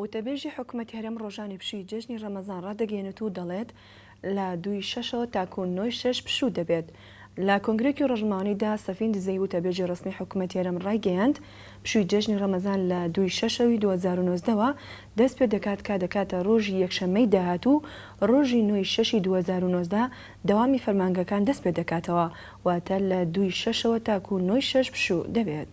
وتەبێژی حکومەتی هەرێم ڕۆژانی پشووی جێژنی ڕەمەزان ڕادەگەیەنێت و دەڵێت، لە دووی شەشەوە تاکوو نۆی شەش پشوو دەبێت. لە کۆنگرەیەکی ڕۆژنمەوانیدا سەفین دزەیی وتەبێژی ڕەسمی حکومەتی هەرێم ڕایگەیاند، پشووی جێژنی ڕەمەزان لە دووی شەشەوی دوو هەزار و نۆزدە وە دەست پێ دەکات کە دەکاتە ڕۆژی یەکشەممەی داهاتوو ڕۆژی نۆی شەشی دوو هەزار و نۆزدە دەوامی فەرمانگەکان دەست پێ دەکاتەوە واتە لە دووی شەشەوە تاکوو نۆی شەش پشوو دەبێت.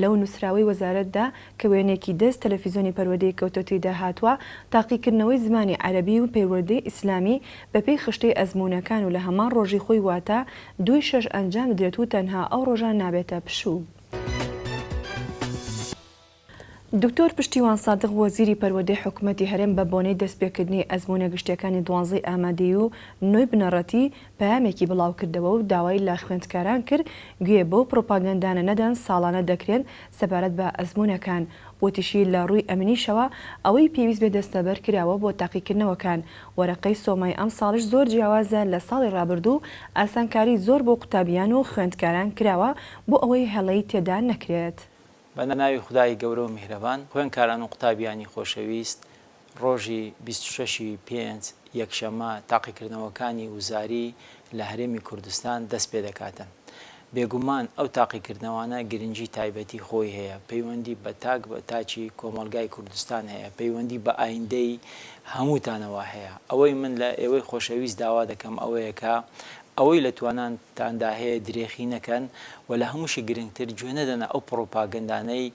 لەو نووسراوەی وەزارەتدا کە وێنەیەکی دەست تەلەفیزۆنی پەروەردەی کەوتە تێیدا هاتووە، تاقیکردنەوەی زمانی عەرەبی و پەیوەردەی ئیسلامی بەپێی خشتەی ئەزموونەکان و لە هەمان ڕۆژی خۆی واتە دوو ی شەش ئەنجام بدرێت و تەنها ئەو ڕۆژە نابێتە پشوو. دکتۆر پشتیوان سادق وەزیری پەروەردەی حکومەتی هەرێم بە بۆنەی دەستپێکردنی ئەزموونە گشتییەکانی دوانزەی ئامادەیی و نۆی بنەڕەتی، پەیامێکی بڵاوکردەوە و داوای لە خوێندکاران کرد گوێ بەو پڕۆپاگەندانە نەدەن ساڵانە دەکرێن سەبارەت بە ئەزموونەکان، وتیشی لە ڕووی ئەمنیشەوە ئەوەی پێویست بێت دەستەبەر کراوە بۆ تاقیکردنەوەکان، وەرەقەی سۆمای ئەمساڵیش زۆر جیاوازە لە ساڵی ڕابردوو، ئاسانکاری زۆر بۆ قوتابیان و خوێندکاران کراوە بۆ ئەوەی هەڵەی تێدا نەکرێت. بە ناوی خودای گەورە و میهرەبان خوێنکاران و قوتابیانی خۆشەویست، ڕۆژی بیست و شەش ی پێنج، یەکشەممە، تاقیکردنەوەکانی وزاری لە هەرێمی کوردستان دەست پێ دەکاتن. بێگومان ئەو تاقیکردنەوانە گرنگی تایبەتی خۆی هەیە، پەیوەندی بە تاک بە تاکی کۆمەڵگای کوردستان هەیە، پەیوەندی بە ئایندەی هەمووتانەوە هەیە. ئەوەی من لە ئێوەی خۆشەویست داوا دەکەم ئەوەیە کە ئەوەی لە توانان، تان دا هەیە درێخی نەکەن و لە هەمووشی گرنگتر گوێ نەدەنە ئەو پڕوپاگەندانەی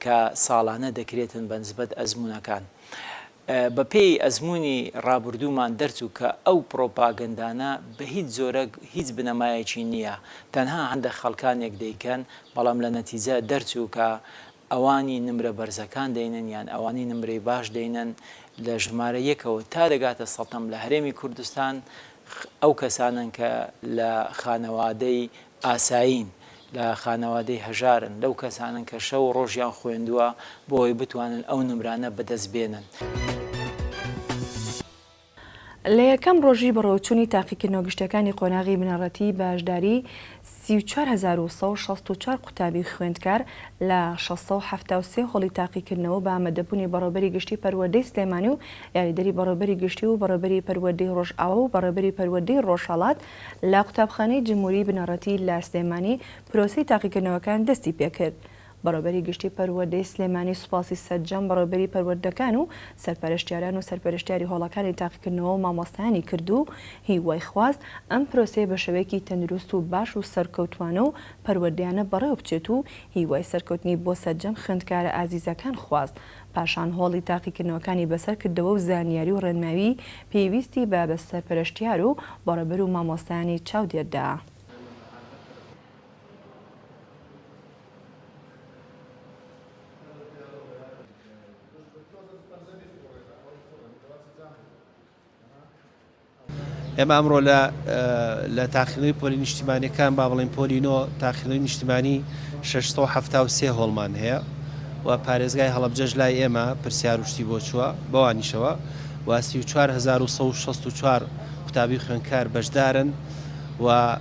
کە ساڵانە دەکرێتن بە نسبەت ئەزموونەکان بە پێی ئەزموونی ڕابوردوومان دەرچوو کە ئەو پڕوپاگەندانە بە هیچ جۆرەک هیچ بنەمایەکی نییە تەنها هەندەک خەڵکانێک دەیکەن بەڵام لە نەتیجە دەرچوو کە ئەوانی نمرە بەرزەکان دەینن یان ئەوانی نمرەی باش دەینن لە ژمارە یەکەوە تا دەگاتە سەتەم لە هەرێمی کوردستان ئەو کەسانەن کە لە خانەوادەی ئاسایین لە خانەوادەی هەژارن لەو کەسانەن کە شەو و ڕۆژیان خۆێندوە بۆ ئەوەی بتوانن ئەو نمرانە بەدەست بێنن. لە یەکەم ڕۆژی بەڕێوەچوونی تاقیکردنەوە گشتیەکانی قۆناغی بنەڕەتی بەشداری سی و چوار هەزار و سەد و شەست و چوار قوتابی خوێندکار لە شەش سەد و حەفتا و سێ هۆڵی تاقیکردنەوە بە ئامادەبوونی بەڕێوبەری گشتی پەروەردەی سلێمانی و یاریدەری بەڕێوبەری گشتی و بەڕێوبەری پەروەردەی ڕۆژئاوا و بەڕێوبەری پەروەردەی ڕۆژهەڵات لە قوتابخانەی جموری بنەڕەتی لە سلێمانی پرۆسەی تاقیکردنەوەکان دەستی پێکرد بەڕێوبەری گشتی پەروەردەی سلێمانی سوپاسی سەرجەم بەڕێوبەری پەروەردەکان و سەرپەرشتیاران و سەرپەرشتیاری هۆڵەکانی تاقیکردنەوە و مامۆستایانی کرد و هیوای خواست ئەم پرۆسەیە بە شێوەیەکی تەندروست و باش و سەرکەوتوانە و پەروەردەیانە بەڕێوەبچێت و هیوای سەرکەوتنی بۆ سەرجەم خوێندکارە ئازیزەکان خواست پاشان هۆڵی تاقیکردنەوەکانی بەسەر کردەوە و زانیاری و ڕێنماوی پێویستی بە بە سەرپەرشتیار و بەڕێوبەر و مامۆستایانی چاودێردا. ئێمە ئەمڕۆ لە لە تاخیرەوەی پۆلی نیشتیمانەکان با بڵین پۆلی نۆ تاخیرەوەی نیشتیمانی 673 هۆڵمان هەیە و پارێزگای هەڵبجەش لای ئێمە پرسیار وشتی بۆ چووە بەوانیشەوە و 1964 قوتابی خوێنکار بەشدارن و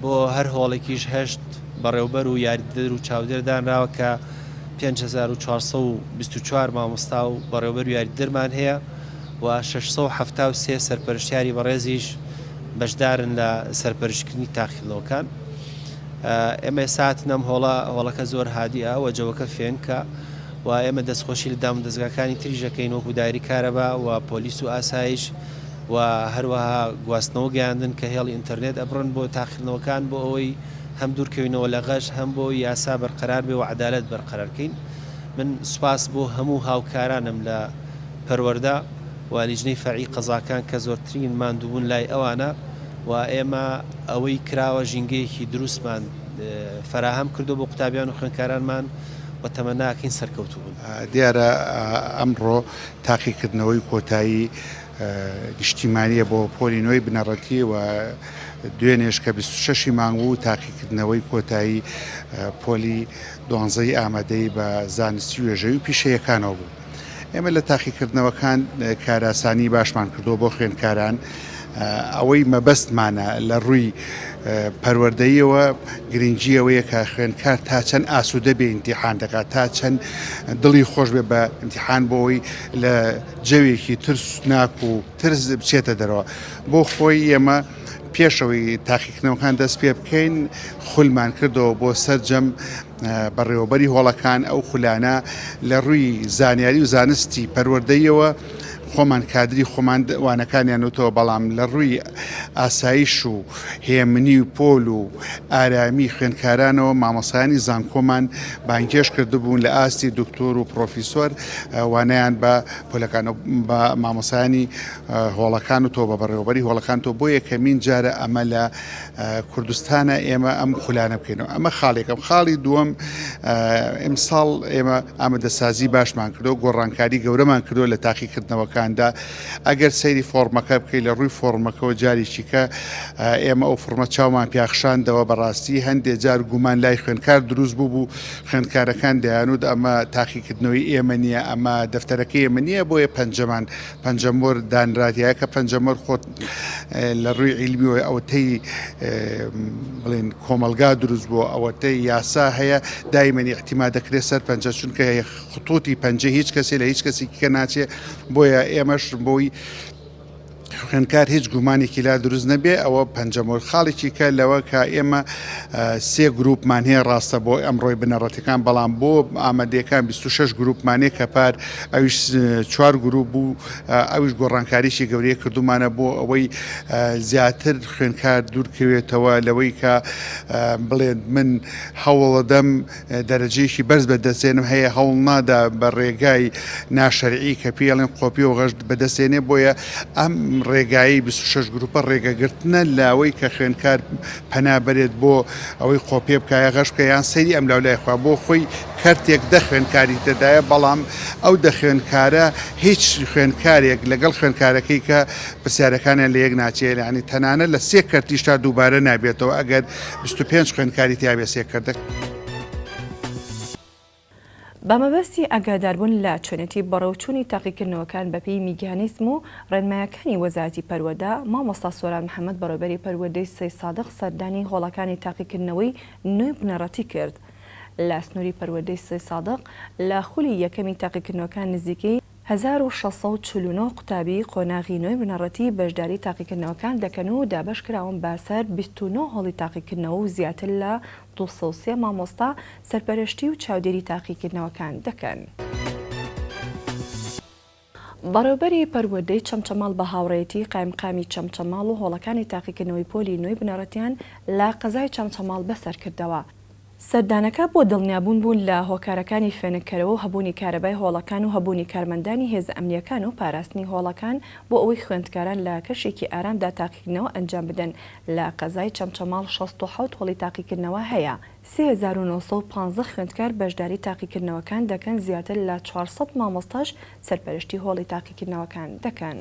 بۆ هەر هۆڵێکیش هەشت بەڕێوبەر و یاریدەدەر و چاودێر دانراوە کە پێنج هەزار و چوار سەد و بیست و چوار مامۆستا و بەڕێوبەر و یاریدەدەرمان هەیە و شەش سەد و حەفتا و سێ سەرپەرشتیاری بەڕێزیش بەشدارن لە سەرپەرشتکردنی تاقیکردنەوەکان ئێمە ئێستا هاتین ئەم هۆڵە هۆڵەکە زۆر هادیە و جەوەکە فێنکە و ئێمە دەستخۆشی لە دام دەستگاکانی تریش دەکەین وەکو دایری کارەبا و پۆلیس و ئاسایش و هەروەها گواستنەوە گەیاندن کە هێڵی ئینتەرنێت ئەبڕن بۆ تاقیکردنەوەکان بۆ ئەوەی هەم دوورکەوینەوە لە غەش هەم بۆ یاسا بەرقەرار بێ و عەدالەت بەرقەرار کەین من سوپاس بۆ هەموو هاوکارانم لە پەروەردە و لیجنەی فەرعی قەزاکان کە زۆرترین ماندووبوون لای ئەوانە و ئێمە ئەوەی کراوە ژینگەیەکی دروستمان فەراهەم کردووە بۆ قوتابیان و خوێندکارانمان و تەمەناکەین سەرکەوتووبن. دیارە ئەمڕۆ تاقیکردنەوەی کۆتایی نیشتیمانییە بۆ پۆلی نۆی بنەڕەتی و دوێنێش کە بیست و شەشی مانگ بوو تاقیکردنەوەی کۆتایی پۆلی دوانزەی ئامادەی بە زانستی وێژەوی و پیشەیەکانەوە بوو ئێمە لە تاقیکردنەوەکان کاراسانی باشمان کردو بۆ خوێندکاران ئەوەی مەبەستمانە لە ڕووی پەروەردەیەوە گرنگجیەوەیە کە خوێندکار تا چەند ئاسوودە بێ ئیمتیحان دەکات تا چەند دڵی خۆش بێ بە ئیمتیحان بۆەوەی لە جەوێکی ترسناک و ترس بچێتە دەرەوە بۆ خۆی ئێمە پێشەوەی تاقیکردنەوەکان دەست پێ بکەین خولمان کردەوە بۆ سەرجەم بەڕێوەبەری هۆڵەکان ئەو خولانە لە ڕووی زانیاری و زانستی پەروەردەیەوە خۆمان کادری خۆمان وانەکانیان وتەوە بەڵام لە ڕووی ئاسایش و هێمنی و پۆل و ئارامی خوێندکارانەوە مامەسانی زانکۆمان بانکێش کردبوون لە ئاستی دکتۆر و پرۆفیسۆر وانەیان بە پۆلەکان و بە مامۆسایانی هۆڵەکان و تۆ بە بەڕێوەبەری هۆڵەکان تۆ بۆ یەکەمین جارە ئەمە لە کوردستانە ئێمە ئەم خولانە بکەینەوە ئەمە خاڵێکم خاڵی دووەم ئیمساڵ ئێمە ئامادەسازی باشمان کردو گۆڕانکاری گەورەمان کردو لە تاقیکردنەوەکاندا ئەگەر سەیری فۆرمەکە بکەیت لە ڕووی فۆرمەکەەوە جاریی کە ئێمە ئەو فڕمە چاومان پیاخشاندەوە بەڕاستی هەندێک جار گومان لای خوێنکار دروست بوو بوو خوێندکارەکان دەیانوت ئەمە تاقیکردنەوەی ئێمە نییە، ئەمە دەفتەرەکەی ئێمە نییە بۆیە پەنجەمان پەنجە مۆر دانراتیایە کە پەنجە مۆر خۆت لە ڕووی عیلمیەوەی ئەوەتەی بڵێن کۆمەلگا دروست بۆ ئەوەتەی یاسا هەیە دایمەنی احتیما دەکرێت سەر پەنجە چونکە خطوتی پەنجە هیچ کەسی لە هیچ کەسێکی کە ناچێ بۆیە ئێمەش بۆی خوێندکار هیچ گومانێکی لا دروست نەبێ ئەوە پەنجەمۆر خاڵێکی کە لەوە کە ئێمە سێ گروپمان هەیە ڕاستە بۆ ئەمڕۆی بنەڕەتەکان بەڵام بۆ ئامادەکان 26 گروپمانێ کە پار ئەویش چوار گروپ بوو ئەوش گۆڕانکاریی گەورەیە کردومانە بۆ ئەوەی زیاتر خوێندکار دوورکەوێتەوە لەوەی کە بڵێن من هەوڵەدەم دەرەجەیەکی بەرز بەدەستێنم هەیە هەوڵ نادا بە ڕێگای ناشەرعی کە پێڵێن قۆپی و غەشت بەدەستێنێ بۆیە ئەم ڕێگایی 26 گروپە ڕێگەگرتنە لاوەی کە خوێنکار پەنا بەرێت بۆ ئەوەی قۆپێ بکایە غەش بکە یان سەیری ئەم لاولای خوا بۆ خۆی کەرتێک دە خوێنکاری تێدایە بەڵام ئەو دە خوێنکارە هیچ خوێنکارێک لەگەڵ خوێنکارەکەی کە پرسیارەکانیان لە یەک ناچێ یعنی تەنانە لە سێ کەرتیش تا دووبارە نابێتەوە ئەگەر بیست و پێنج خوێندکاری تیا بێ سێ کردک. بە مەبەستی ئاگاداربوون لە چۆنێتی بەڕێوچوونی تاقیکردنەوەکان بەپێی میگانیزم و ڕێنمایەکانی وەزارەتی پەروەدە، مامۆستا سۆران محەمەد بەڕێوبەری پەروەردەی سەیدسادق سەردانی هۆڵەکانی تاقیکردنەوەی نۆی بنەڕەتی کرد لە سنوری پەروەردەی سەیدسادق لە خولی یەکەمی تاقیکردنەوەکان نزیکەی هەزار و شەش سەد و چل و نۆ قوتابی قۆناغی نۆی بنەڕەتی بەشداری تاقیکردنەوەکان دەکەن و دابەشکراون بە سەر بیست و نۆ هۆڵی تاقیکردنەوە و زیاتر لە دوو سەد و سێ مامۆستا سەرپەرشتی و چاودێری تاقیکردنەوەکان دەکەن. بەڕێوبەری پەروەردەی چەمچەماڵ بە هاوڕێیەتی قایمقامی چەمچەماڵ و هۆڵەکانی تاقیکردنەوەی پۆلی نۆی بنەڕەتیان لە قەزای چەمچەماڵ بەسەرکردەوە، سەردانەکە بۆ دڵنیابوون بوون لە هۆکارەکانی فێنککەرەوە و هەبوونی کارەبای هۆڵەکان و هەبوونی کارمەندانی هێزە ئەمنییەکان و پاراستنی هۆڵەکان بۆ ئەوەی خوێندکاران لە کەشێکی ئارامدا تاقیکردنەوە ئەنجام بدەن لە قەزای چەمچەماڵ شەست و حەوت هۆڵی تاقیکردنەوە هەیە سێ هەزار و نۆ سەد و پازدە خوێندکار بەشداری تاقیکردنەوەکان دەکەن زیاتر لە چوار سەد مامۆستاش سەرپەرشتی هۆڵی تاقیکردنەوەکان دەکەن.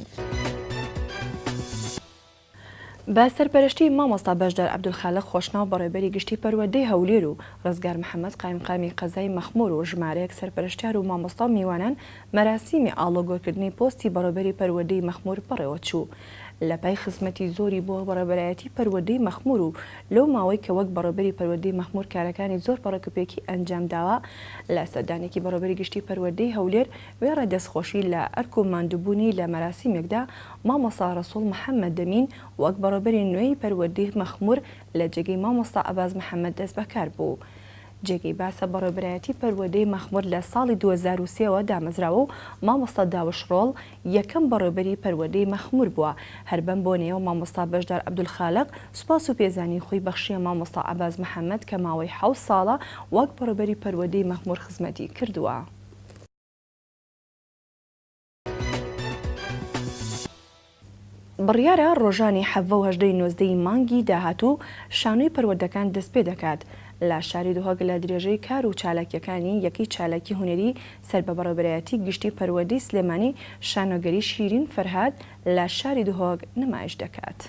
بە سەرپەرشتیی مامۆستا بەشدار عەبدولخالق خۆشناو بەڕێوبەری گشتیی پەروەردەی هەولێر و ڕزگار محەمەد قایمقامی قەزای مەخموور و ژمارەیەک سەرپەرشتیار و مامۆستا و میوانان مەراسیمی ئاڵۆگۆرکردنی پۆستی بەڕێوبەری پەروەردەی مەخموور بەڕێوەچوو لەپای خزمەتی زۆری بۆ بەڕێوبەرایەتی پەروەردەی مەخموور و لەو ماوەی کە وەک بەڕێوبەری پەروەردەی مەخموور کارەکانی زۆر پەڕۆکپێکی ئەنجامداوە لە سەردانێکی بەڕێوبەری گشتیی پەروەردەی هەولێر وێڕای دەستخۆشی لە ئەرک و ماندووبوونی لە مەراسیمێکدا، مامۆستا ڕەسووڵ محەممەد دەمین وەک بەڕێوبەری نوێی پەروەردەی مەخموور لە جێگەی مامۆستا ئەباز محەممەد دەستبەکار بوو. جێگەی باسە بەڕێوبەرایەتی پەروەردەی مەخموور لە ساڵی دوو هەزار و سێ وە دامەزراوە و مامۆستا داوش ڕۆڵ یەکەم بەڕێوبەری پەروەردەی مەخموور بووە، هەر بەم بۆنەیەوە مامۆستا بەشدار عەبدولخالق سوپاس و پێزانینی خۆی بەخشییە مامۆستا ئەباز محەممەد کە ماوەی حەوت ساڵە وەک بەڕێوبەری پەروەردەی مەخموور خزمەتی کردووە. بڕیارە ڕۆژانی حەڤە و هەژدە ی نۆزدە ی مانگی داهاتوو شانۆی پەروەردەکان دەستپێدەکات لە شاری دهۆک لە درێژەی کار و چالاکییەکانی یەکەی چالاکی هونەری سەر بە بەڕێوەبەرایەتی گشتی پەروەردەی سلێمانی شانۆگەری شیرین فەرهاد لە شاری دهۆک نمایش دەکات.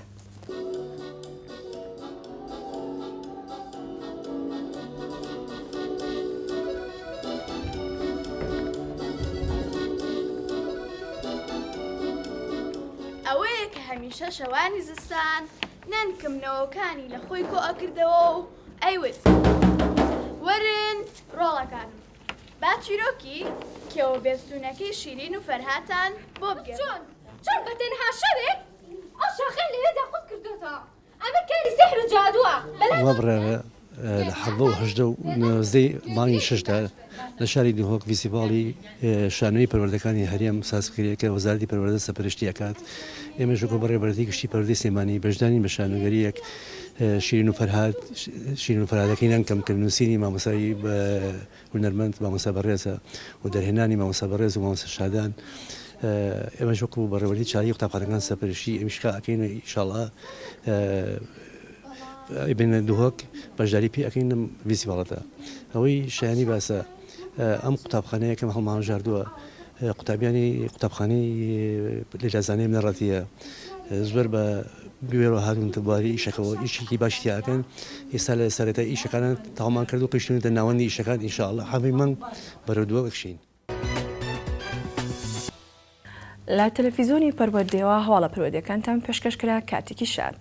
ئەوەیە کە هەمیشە شەوانی زستان نەنکم نەوەکانی لە خۆی کۆ ئەکردەوە و ئەیوت وەرن ڕۆڵەکانم با چیرۆکی کێوە بێستونەکەی شیرین و فەرهاتان بۆ بگێڕم. چۆن بە تەنها شەوێک ئەو شاخەی لەوێدا قوت کردۆتەوە ئەمە کاری سیحر و جادووە بەلام. ئەوە بڕیارە لە حەڤدە و هەژدە و نۆزدەی مانگی شەشدا لە شاری دهۆک ڤیسیڤاڵی شانۆیی پەروەردەکانی هەرێم ساز بکرێت کە وەزارەتی پەروەردە سەپەرشتی ئەکات ئێمەش وەکو بەڕێوەبەرەتی گشتی پەروەردەی سلێمانی بەشدارین بە شانۆگەرییەک شیرین و فەرهاد شیرین و فەرهادەکەی نەنکەم کە نووسینی مامۆستای هونەرمەند مامۆستا بەڕێزە و دەرهێنانی مامۆستا بەڕێز و مامۆستا شادان ئێمەش وەکو بەڕێوەری چاوی قوتابخانەکان سەرپەرشی ئەمیش کا ئەکەین و ئیشاڵا بێنە دهۆک بەشداری پێ ئەەکەین لەم ویسیواڵەتە ئەوەی شایانی باسە ئەم قوتابخانەیەکەم هەڵمامژاردووە قوتابیانی قوتابخانەی لەیلا زانای بنەڕەتییە زۆر بە بوێرەوە هاتوونەتە بواری ئیشەکەەوە ئیشێکی باش تیاکەن ئێستا لە سەرەتا ئیشەکانە تاومان کرد و قیشتونەتە ناوەندی ئیشەکان ئینشاءاللە حەڤی مەنگ بەرەو دووە ئەکشین. لە تەلەفیزۆنی پەروەردەیەوە هەواڵە پەروەدەکانتان پێشکەش کرا کاتێکی شاد.